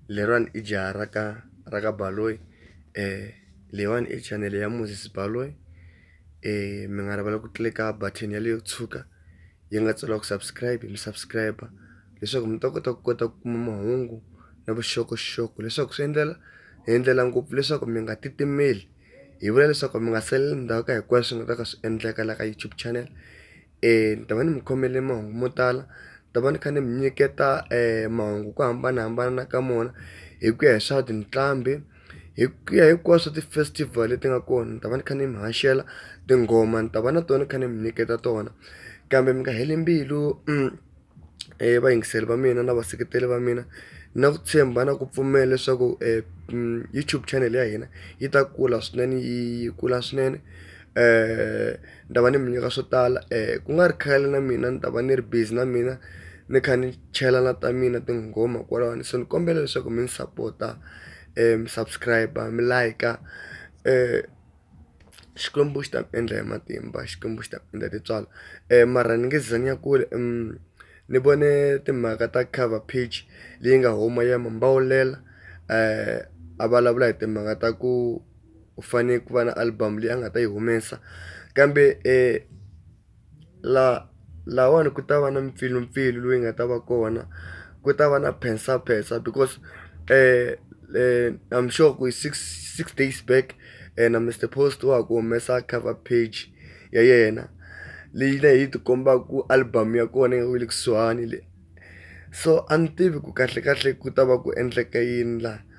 leriwani i jaha ra ka ra ka Baloyi leyiwani i chanele ya Moses Baloyi mi nga rivala ku tlilika button yaleyo tshuka yi nga tsariwa ku subscribe mi subscribe leswaku mi ta kota ku kota ku kuma mahungu na vuxokoxoko leswaku swi endlela hi endlela ngopfu leswaku mi nga titimeli hi vula leswaku mi nga saleli ndzhaku ka hinkwaswo swi nga ta ka swi endleka la ka YouTube channel. ni ta va ni mi khomele mahungu mo tala, ni ta va ni kha ni mi nyiketa mahungu hi ku hambanahambana ka wona, hi ku ya hi swa tinqambi, hi ku ya hinkwaswo ti-festival leti nga kona ni ta va ni kha ni mi haxela. Tinghoma ni ta va na tona ni kha ni mi nyiketa tona kambe mi nga heli mbilu . vayingiseri va mina na vaseketeri va mina na ku tshemba na ku pfumela leswaku YouTube channel ya hina yi ta kula swinene yi kula swinene ni ta va ni mi nyika swo tala ku nga ri khale na mina ni ta va ni ri busy na mina ni kha ni chela na ta mina tinghoma kwalano so ni kombela leswaku mi ni sapota mi subscribe mi like . Xikwembu xi ta ku endla hi matimba Xikwembu xi ta ku endla hi tintswalo mara ni nge za ni ya kule ni vone timhaka ta cover page leyi nga huma ya Mambawulela a vulavula hi timhaka ta ku u fanele ku va na album leyi a nga ta yi humesa kambe . laha lahawani ku ta va na mpfilumpfilu loyi nga ta va kona ku ta va na phensaphensa because I'm sure ku hi six six days back yena Mister Post wa ha ku humesa cover page ya yena leyi na yi ti kombaka ku album ya kona yi le kusuhani le so a ni tivi ku kahlekahle ku ta va ku endleke yini laha.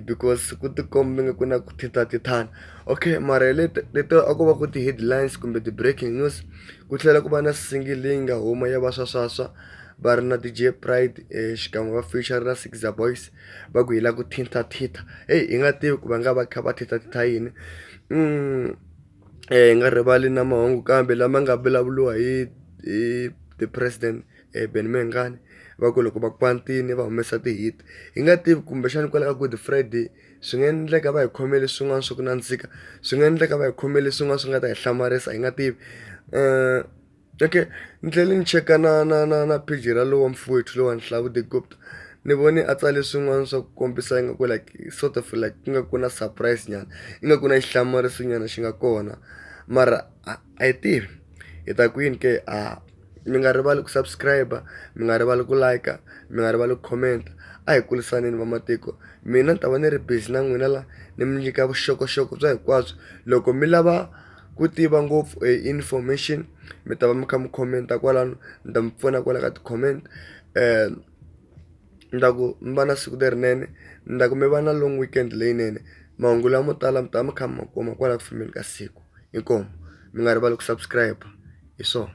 because ku tikomba ingaku ku na ku tithatithana okay mara hi leti leti a ko va ku ti-headlines kumbe ti-breaking news ku tlhela ku va na single leyi nga huma ya va swaswaswa va ri na ti J pride xikan'we va feature na Sikiza boys va ku hi la ku thintathitha heyi hi nga tivi ku va nga va kha va thintathitha yini hi nga rivali na mahungu kambe lama nga vulavuliwa hi hi the president. Benny Mayengani va ku loko va kwatile va humesa ti-hit hi nga tivi kumbexana kwala ka Good Friday swi nga endleka va hi khomele swin'wana swa ku nandzika swi nga endleka va hi khomele swin'wana swi nga ta hi hlamarisa hi nga tivi okay ni tlhela ni cheka na na na na page ra lowa mfowethu lowani Hlavu the goat ni vone a tsale swin'wana swa ku kombisa ingaku like sort of like ingaku na surprise nyana ingaku na xihlamariso nyana xi nga kona mara . a yi tirhi hi ta kwini ke a mi nga rivali ku subscribe mi nga rivali ku like mi nga rivali ku comment a hi kurisaneni vamatiko mina ni ta va ni ri busy na n'wina la ni mi nyika vuxokoxoko bya hinkwabyo loko mi lava ku tiva ngopfu hi information mi ta va mi kha mi comment-a kwalano ni ta mi pfuna kwala ka ti-comment . ni ta ku mi va na siku lerinene ni ta ku mi va na long weekend leyinene mahungu lamo tala mi ta va mi kha mi ma kuma kwala ku fambeni ka siku inkomu mi nga rivali ku subscribe hi swona.